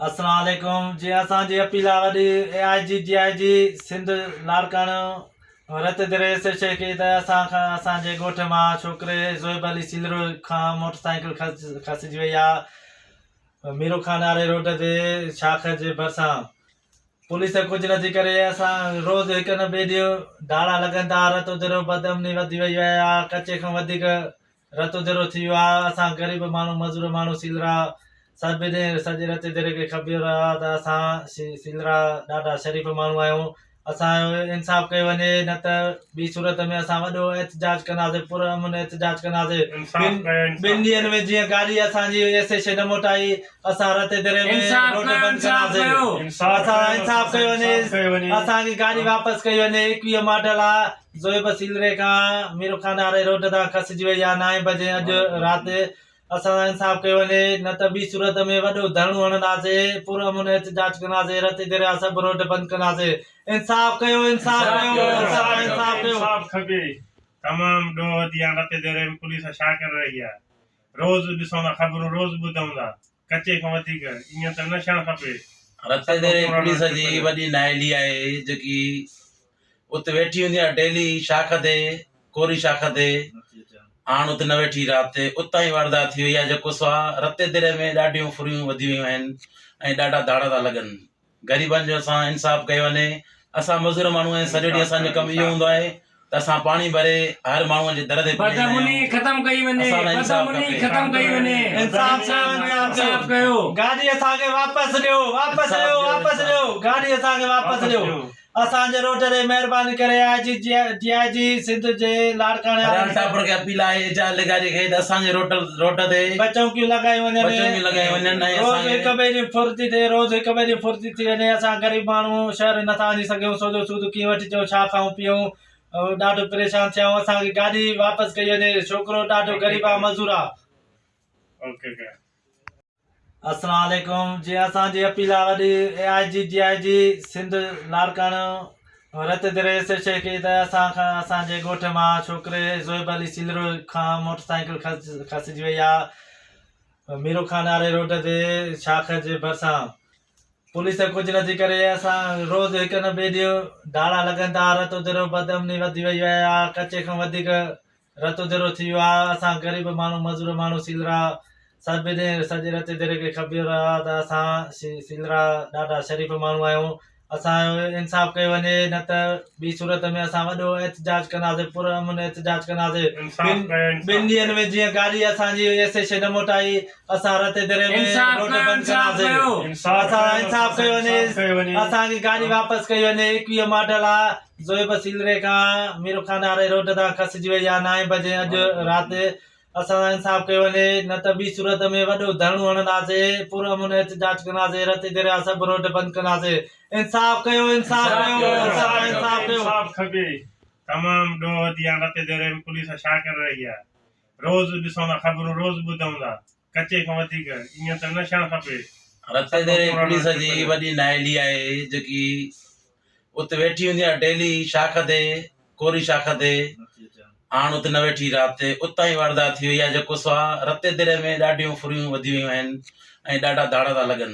السلام عليڪم جي اسان جي اپيل آ وڏي اي آئي جي ڊي آئي جي Sindh Larkana Ratodero S H A کي ته اسان کان اسان جي ڳوٺ مان ڇوڪري زويب علي سيلروي کان موٽر سائيڪل کسجي وئي آ ميرو خان واري روڊ تي شاخ جي ڀرسان پوليس ڪجھ نه ٿي ڪري اسان روز هڪ نه ٻي ڏينهن ڌاڙا لڳن ٿا رت درو بدامني وڌي وئي آ ڪچي کان وڌيڪ رتو درو ٿي ويو آهي اسان غريب ماڻهو مزور ماڻهو سيلرا سڀ ڏي سڄي رتي دري کي خبيو رهيو آهي ته اسان سيلرا ڏاڍا شريف ماڻهو آهيون اسان جو انصاف ڪيو وڃي نه ته ٻي صورت ۾ اسان وڏو احتجاج ڪنداسي پر امن احتجاج ڪنداسي ٻن ڏينهن ۾ جيئن گاڏي اسان جي ايس ايس اي نه موٽائي اسان رتي دري ۾ روڊ بند ڪنداسي اسان انصاف ڪيو وڃي اسان جي گاڏي واپس ڪئي وڃي ايڪويهه ماڊل آهي زويب سيلري کان ميرخان آري روڊ تان کسجي وئي آ نائين بجي اڄ رات اسان سان انصاف ڪيو وڃي نه ته ٻي صورت ۾ وڏو ڌرڻو هڻنداسي پر امن احتجاج ڪنداسي رتي دريا سڀ روڊ بند ڪنداسي انصاف ڪيو انصاف ڪيو اسان کي انصاف ڪيو انصاف کپي تمام ڏوهه ڏينهن رتي دريا ۾ پوليس ڇا ڪري رهي آ روز ڏسون ٿا خبرون روز ٻڌون ٿا. ڪچي کان وڌيڪ ائين ته نه ڇڻ کپي. رتي ديري پوليس جي وڏي نااهلي آهي جيڪي ات ويٺي هوندي آهي ڊيلي شاخ تي ڪوري شاخ تي هاڻ ات نه ويٺي رات تي اتان ئي واردات ٿي وئي آهي جيڪو سو آهي رتي ديري ۾ ڏاڍيون ڦرهيون وڌي ويون آهن ۽ ڏاڍا ڌاڙا ٿا لڳن غريبن جو سان انصاف ڪيو وڃي، اسان مزور ماڻهو آهيون سڄو ڏينهن اسان جو ڪم اهو هوندو آهي ته اسان پاڻي ڀري هر ماڻهو جي در تي پهچائيندا آهيون، اسان لاء انصاف کپي. اسان جي روڊ تي مهرباني ڪري آء جي ڊي آء جي سنڌ جي لاڙڪاڻي وارن سان ٽاپر کي اپيل آهي ايڇ آر لغاري کي ته اسان جي روڊ روڊ تي بچونڪيون لڳايون وڃن بچونڪيون لڳايون وڃن ۽ روز اسان کي هڪ ٻئي جي ڦڙتي ٿئي روز هڪ ٻئي جي ڦڙتي ٿي وڃي اسان غريب ماڻهو شهر نٿا وڃي سگهيون سو جو سود ڪيئن وٺجون ڇا کائون پيئون ڏاڍو پريشان ٿيا آهيون اسان کي گاڏي واپس ڪئي وڃي ڇوڪرو ڏاڍو غريب آهي مزور آهي السلام عليڪم جي اسان جي اپيل آ وڏي اي آئي جي ڊي آئي جي Sindh Larkana Ratodero S H A کي ته اسان کان اسان جي ڳوٺ مان ڇوڪري زويب علي سيلرو کان موٽر سائيڪل کسجي وئي آ ميرو خان واري روڊ تي شاخ جي ڀرسان پوليس ڪجھ نٿي ڪري اسان روز هڪ نه ٻي ڏينهن ڌاڙا لڳن ٿا رت درو بدامني وڌي وئي آ ڪچي کان وڌيڪ رت اڌيرو ٿي ويو آ اسان غريب ماڻھو مزور ماڻھو سيلرا سڀ ڏي سڄي رت اڌيري کي خبير آ ته اسان سيلرا ڏاڍا شريف ماڻھو آھيون اسان جو انصاف ڪيو وڃي نه ته ٻي صورت ۾ اسان وڏو احتجاج ڪنداسي پر امن احتجاج ڪنداسي ٻن ڏينھن ۾ جيئن گاڏي اسان جي ايس ايس اي نه موٽائي اسان رت اڌيري ۾ روڊ بند ڪنداسي اسان انصاف ڪيو وڃي اسان جي گاڏي واپس ڪئي وڃي ايڪويهه ماڊل آ زويب سيلري کان ميرخان واري روڊ تان کسجي وئي يا نائين بجي اڄ رات اسان سان انصاف ڪيو وڃي نه ته ٻي صورت ۾ وڏو ڌرڻو هڻنداسين پرامن احتجاج ڪنداسين رتي درياهه سڀ روڊ بند ڪنداسين انصاف ڪيو انصاف ڪيو اسان کي انصاف ڏيو. انصاف کپي تمام ڏوهه ديان رتي درياهه ۾ پوليس ڇا ڪري رهي آهي روز ڏسون ٿا خبرون روز ٻڌون ٿا ڪچي کان وڌيڪ ايئن ته نه ڇڻ کپي. رتنديري پوليس جي وڏي نااهلي آهي جيڪي ات ويٺي هوندي آهي ڊيلي شاخ تي ڪوري شاخ تي هاڻ ات نه ويٺي رات تي اتان ئي واردات ٿي وئي آهي جيڪو سو رتيديري ۾ ڏاڍيون ڦرهيون وڌي ويون آهن ۽ ڏاڍا ڌاڙا ٿا لڳن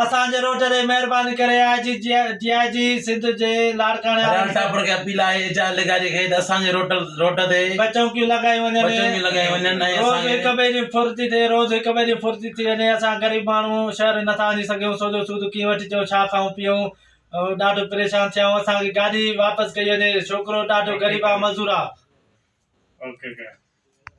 اسان جي روڊ تي مهرباني ڪري آء جي ڊي آء جي سنڌ جي لاڙڪاڻي وارن سان ٽاپر کي اپيل آهي ايڇ آر اڌيڪاري کي ته اسان جي روڊ روڊ تي بچونڪيون لڳايون وڃن بچونڪيون لڳايون وڃن ۽ روز اسان کي هڪ ٻئي جي ڦرتي ٿئي روز هڪ ٻئي جي ڦرتي ٿي وڃي اسان غريب ماڻهو شهر نٿا وڃي سگهيون سو جو سود ڪيئن وٺي اچون ڇا کائون پيئون ۽ ڏاڍو پريشان ٿيا آهيون اسان کي گاڏي واپس ڪئي وڃي ڇوڪرو ڏاڍو غريب آهي مزور آهي